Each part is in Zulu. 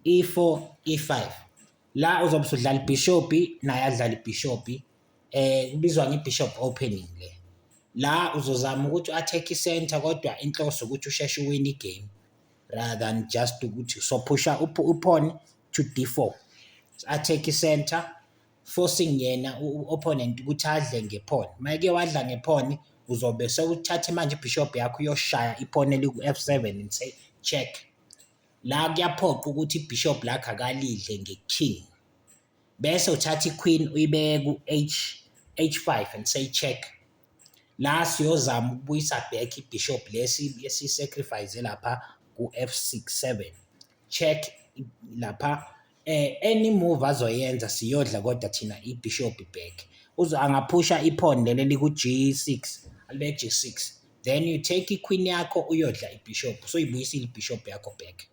e4 e5 la uzobe usudlala ibhishobhi naye adlala ibhishobhi eh kubizwa ngebishop opening le la uzozama ukuthi u-attack i-center kodwa inhloso ukuthi usheshe uwine igame rather than just ukuthi sophusha uphone to d4 attack i-center forcing yena u-opponent ukuthi adle ngephone mayeke wadla ngephone uzobe sewuthathe manje ibhishobhi yakho uyoshaya iphone eliku-f7 and say check La kuyaphoqa ukuthi ibishop lakhe akalidle nge-king. Bese uthatha i-queen uyibeke ku-h h5 and say check. La siyozama ukubuyisa back ibishop lesi esisacrifice lapha ku-f67. Check lapha Eh any move azoyenza siyodla kodwa thina iBishop back. Uzo angaphusha iphone leli liku-G6, alibe G6. Then you take iQueen yakho uyodla iBishop, soyibuyisile iBishop yakho back.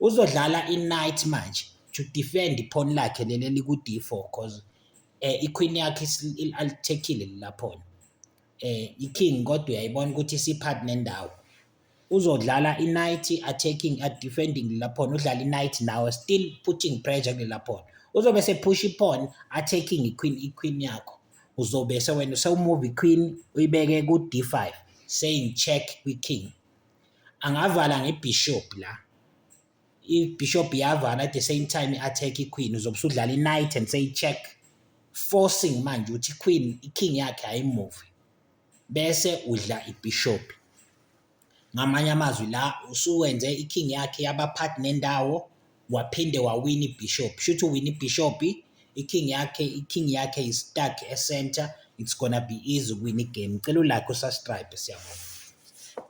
Uzodlala iKnight manje to defend iphone lakhe leli eliku-D4 cause eh iQueen yakhe isi- il- alithekile lelaphone. Eh iKing kodwa uyayibona ukuthi isiphakathi nendawo. uzodlala i-night attacking at defending lela pawn udlala i-night nawe still putting pressure kulela pawn uzobe sephusha i-pawn attacking i-queen i-queen yakho uzobe sewena sewumuva i-queen uyibeke ku-d5 saying check kwi-king angavala ngebishop la i-bishop yavala at the same time i-attack i-queen uzobe usudlala i-night and say check forcing manje ukuthi i-queen i-king yakhe ayimuve bese udla ibhishobhi. Ngamanye amazwi la usuwenze i-king yakhe yabaphathi nendawo waphinde wawina ibhishobhi. Shuthi uwina ibhishobhi, i-king yakhe, i-king yakhe is stuck e-center, it's gonna be easy ukuwina igame. Ngicela ulakhe usastribe siyabonga.